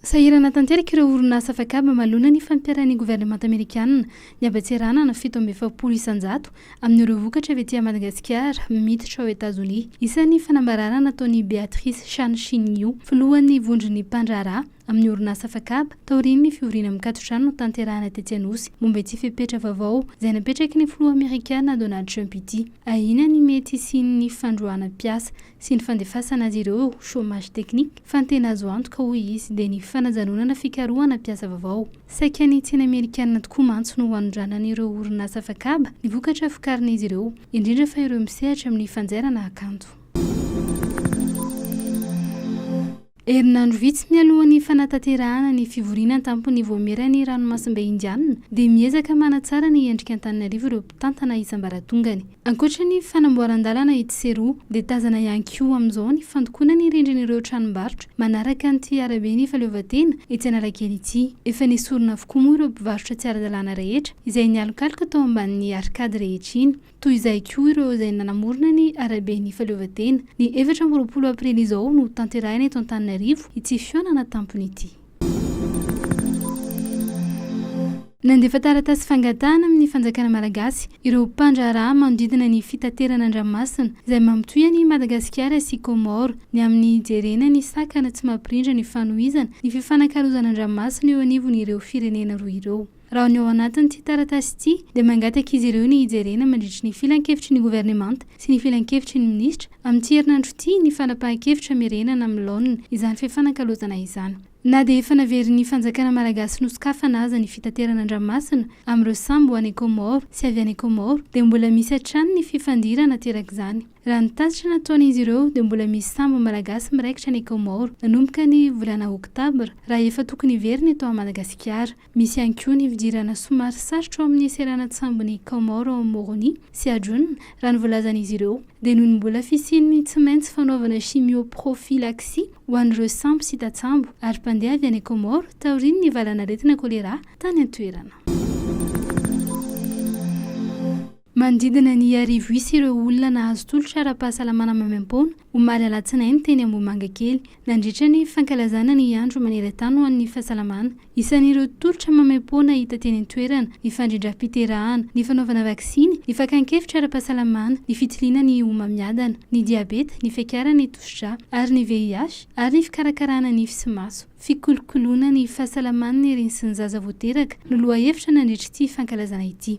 Sahirana tanteraka ireo orinasa afakaba maloana ny fampiharan'ny governemanta amerikana ny habatserana na fito amby efapolo isan-jato amin'ireo vokatra avy aty Madagasikara miditra ao Etazonia. Isan'ny fanambaràna nataon'i Beatrice Chan Shin-yu, filohan'ny vondron'ny mpandraharaha amin'ny orinasa afakaba taorian'ny fivoriana mikatotrano notanterahina tetsy Anosy momba ity fepetra vaovao izay napetraky ny filoha amerikana Donald Trump ity. Ahiana ny mety hisian'ny fandroahana mpiasa sy ny fandefasana azy ireo eo, chômage technique, fa ny tena azo antoka, hoy izy, dia ny fanajanonana fikarohana mpiasa vaovao. Saika ny tsena amerikanina tokoa mantsy no hanondranan'ireo orinasa afakaba ny vokatra vokarin'izy ireo, indrindra fa ireo misehatra amin'ny fanjairana kanto. Herinandro vitsy mialohan'ny fanatanterahana ny fivoriana an-tampon'ny Vaomieran'ny Ranomasimbe Indianina dia miezaka manatsara ny endrik'Antananarivo ireo mpitantana isam-baratongany. Ankoatra ny fanamboaran-dalana etsy sy eroa dia tazana ihany koa amin'izao ny fandokoana ny rindrin'ireo tranombarotra manaraka an'ity araben'ny fahaleovantena etsy Analakely ity. Efa nesorina avokoa moa ireo mpivarotra tsy ara-dalàna rehetra izay nialokaloka tao ambanin'ny arcade rehetra iny. Toy izay koa ireo izay nanamorona ny Araben'ny Fahaleovantena. Ny efatra amby roapolo aprily izao no hotanterahina eto Antananarivo ity fihaonana tampony ity. Nandefa taratasy fangatahana amin'ny fanjakana malagasy ireo mpandraharaha manodidina ny fitaterana an-dranomasina izay mampitohy an'i Madagasikara sy Comores ny amin'ny hijerena ny sakana tsy mampirindra ny fanohizana ny fifanakalozana an-dranomasina eo anivon'ireo firenena roa ireo. Raha ny ao anatin'ity taratasy ity dia mangataka izy ireo ny hijerena mandritry ny filankevitry ny governemanta sy ny filankevitry ny minisitra amin'ity herinandro ity ny fanapahan-kevitra merenana amin'ny laoniny izany fifanakalozana izany. Na dia efa naverin'ny fanjakana malagasy nosokafana aza ny fitaterana an-dranomasina amin'ireo sambo ho any Kaomoro sy avy any Kaomoro dia mbola misy hatrany ny fifandirana aterak'izany. Raha ny tatitra nataon'izy ireo dia mbola misy sambo malagasy miraikitra any Kaomoro nanomboka ny volana oktobra raha efa tokony hiverina eto Madagasikara. Misy ihany koa ny fidirana somary sarotra ao amin'ny seranan-tsambon'i Kaomaoro ao Moroni sy Ajun, raha ny voalazan'izy ireo, dia noho ny mbola fisian'ny tsy maintsy fanaovana chimio-prophylaxie ho an'ireo sampy sy tatsambo ary mpandeha avy any Kaomaoro taorian'ny valanaretina kolera tany an-toerana. Manodidina ny arivo isa ireo olona nahazo tolotra ara-pahasalamana maimaim-poana omaly alatsinainy teny Ambohimangakely, nandritra ny fankalazana ny andro maneran-tany ho an'ny fahasalamana. Isan'ireo tolotra maimaim-poana hita teny an-toerana ny fandrindram-piterahana, ny fanaovana vaksiny, ny fakan-kevitra ara-pahasalamana, ny fitiliana ny homamiadana, ny diabeta, ny fiakarana ny tosidra ary ny VIH, ary ny fikarakarana nify sy maso. Fikolokoloana ny fahasalaman'ny reny sy ny zaza vao teraka no lohahevitra nandritr'ity fankalazana ity.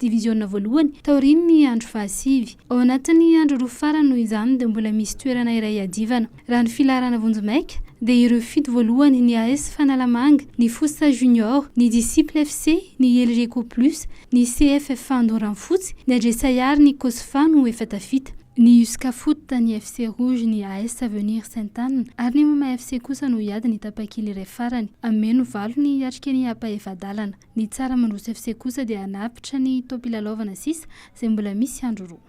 Diviziona voalohany, taorian'ny andro fahasivy. Ao anatin'ny andro roa farany noho izany dia mbola misy toerana iray iadivana. Raha ny filaharana vonjimaika, dia ireo fito voalohany, ny AS Fanalamanga, ny Fosa Junior, ny Disciples FC, ny Elgeco Plus, ny CFFA Andoranfotsy, ny Adresai ary ny Cosfa no efa tafita. Ny Usca Foot, ny FC Rouge, ny AS Avenir Sainte Anne ary ny Moma FC kosa no hiady ny tapakila iray farany. Hameno valo ny hiatrika ny apahefa-dalana. Ny tsara mandroso FC kosa dia hanapitra ny taom-pilalaovana sisa izay mbola misy andro roa.